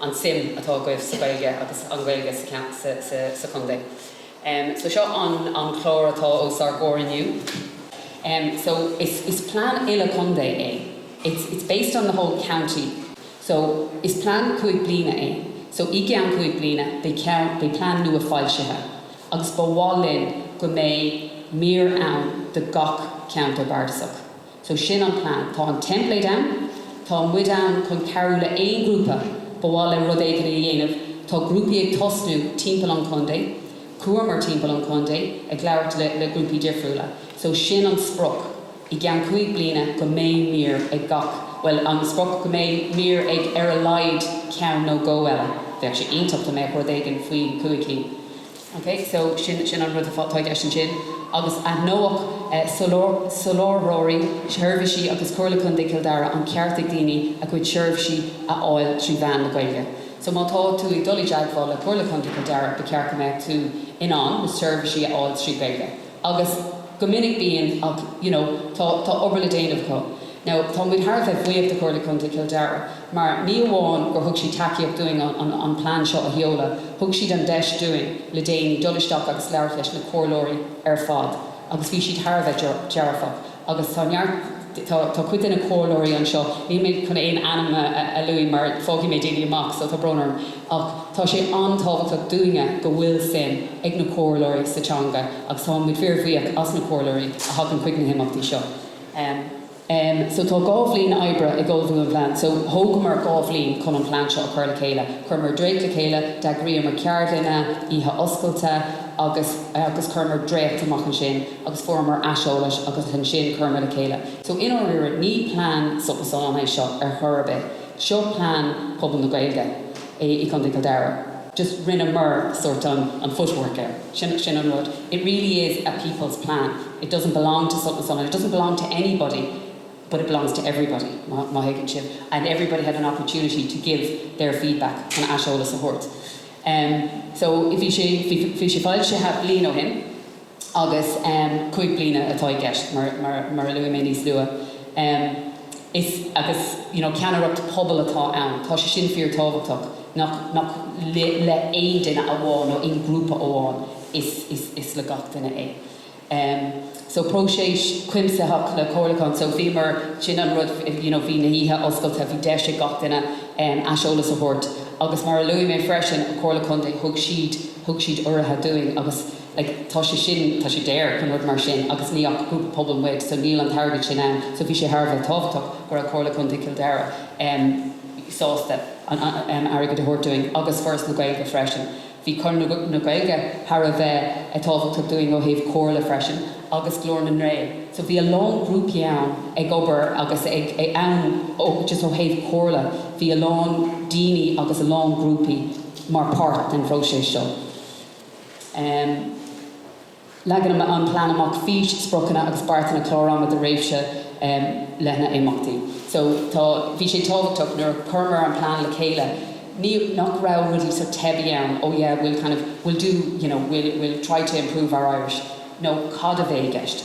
an suim atá agaibh sa Ghaeilge agus an Ghaeilge sa chontae. So seo an an chlár atá os ár gcomhair inniu. So is is plean uile contae é, it's it's based on the whole county. So is plean cúig bliana é. So i gceann cúig bliana beidh ceann beidh plean nua foilsithe agus ba mhaith linn go mbeidh mír ann do gach ceantar bardasach. So sin an plean. Tá an template ann. Tá muid ann chun cabhrú le aon ghrúpa ba mhaith leo rud éigin a dhéanamh. Tá grúpaí ag tosnú timpeall an chontae. Chuamar timpeall an chontae ag labhairt le le grúpaí difriúla. So sin an sprioc, i gceann cúig bliana go mbeidh mír ag gach, bhuel an sprioc go mbeidh mír ag ar a laghad ceann nó dhó eile. Bheadh sé iontach dá mbeadh rud éigin faoi chúig cinn. OK, so sin, sin an rud atá i gceist ansin. Agus aithneoidh soláthróirí seirbhísí agus Comhairle Contae Chill Dara an ceart ag daoine a gcuid seirbhísí a fháil trí mheán na Gaeilge. So má tá tú ag dul i dteagmháil le Comhairle Contae Chill Dara, ba cheart go mbeadh tú in ann na seirbhísí a fháil trí Ghaeilge. Agus go minic bíonn, ach you know tá tá obair le déanamh acu. Now tá muid thar a bheith buíoch de Chomhairle Contae Chill Dara mar ní amháin gur thug siad tacaíocht dúinn an an an plean seo a sheoladh, thug siad an deis dúinn le déanaí dul isteach agus labhairt leis na comhairleoirí ar fad agus bhí siad thar a bheith dearfach. agus tá neart, tá, tá cuid de na comhairleoirí anseo, níl mé chun aon ainm a, a, a lua mar fágfaidh mé daoine amach so tá brón orm ach tá sé an-tábhachtach dúinne go bhfuil suim ag na comhairleoirí sa teanga agus tá muid fíor bhuíoch as na comhairleoirí a thagann chuig na himeachtaí seo. Em. Em. So tá dhá bhliain oibre ag ullmhú an phlean so thógamar dhá bhliain chun an plean seo a chur le chéile. Chuireamar dréacht le chéile, d'eagraíomar ceardlanna, oíche oscailte agus, agus chuireamar dréacht amach ansin. agus fuaireamar aiseolais agus ansin chuireamar le chéile. So, i ndáiríre, ní plean Sult na Sollán é seo ar chor ar bith. Seo plean pobal na Gaeilge i gContae Chill Dara. Just rinneamar sort an footwork air. Sin sin an rud. It really is a people's plan. It doesn't belong to Sult na Sollán and it doesn't belong to anybody but it belongs to everybody, má má thuigeann sibh, and everybody had an opportunity to give their feedback, chun aiseolas a thabhairt. Em, so, bhí sé bhí sé foilsithe bliain ó shin. agus cúig bliana atá i gceist, mar a luaigh mé níos luaithe, is, agus, you know ceannaireacht pobail atá ann, tá sé sin fíor tábhachtach, nach nach le aon duine amháin nó aon ghrúpa amháin, is is is le gach duine é. So próiseas cuimsitheach le comhairliúchán, so bhíomar, sin an rud, you know bhí na hoíche oscailte, bhí deis ag gach duine aiseolas a thabhairt, agus mar a luaigh mé freisin, an Chomhairle Contae, thug siad thug siad urraithe dúinn, agus. like, tá sé sin, tá sé daor, nó rud mar sin, agus níl ach grúpa pobail muid, so níl an t-airgead sin ann, so bhí sé thar a bheith tábhachtach go raibh Comhairle Contae Chill Dara em. sásta an, em, airgead a thabhairt dúinn, agus Foras na Gaeilge freisin. Bhí Conradh na, na Gaeilge thar a bheith eh tábhachtach dúinn ó thaobh comhairle freisin, agus Glór na nGael, so bhí a lán grúpaí ann ag obair agus ag, ag, ann ó, just ó thaobh comhairle, bhí a lán daoine agus a lán grúpaí mar páirt den phróiseas seo. Leagann an plean amach fís, spriocanna agus beartanna clár ama do réimhse leithne imeachtaí. So bhí sé tábhachtach nuair a chuireamar an plean le chéile nach raibh rudaí sort teibí ann, oh yeah we'll kind of, we'll do, you know, we'll try to improve our Irish, nó cad a bheidh i gceist?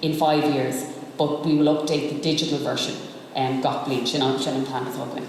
in five years but we will update the digital version gach bliain, sin an t-am atá againn.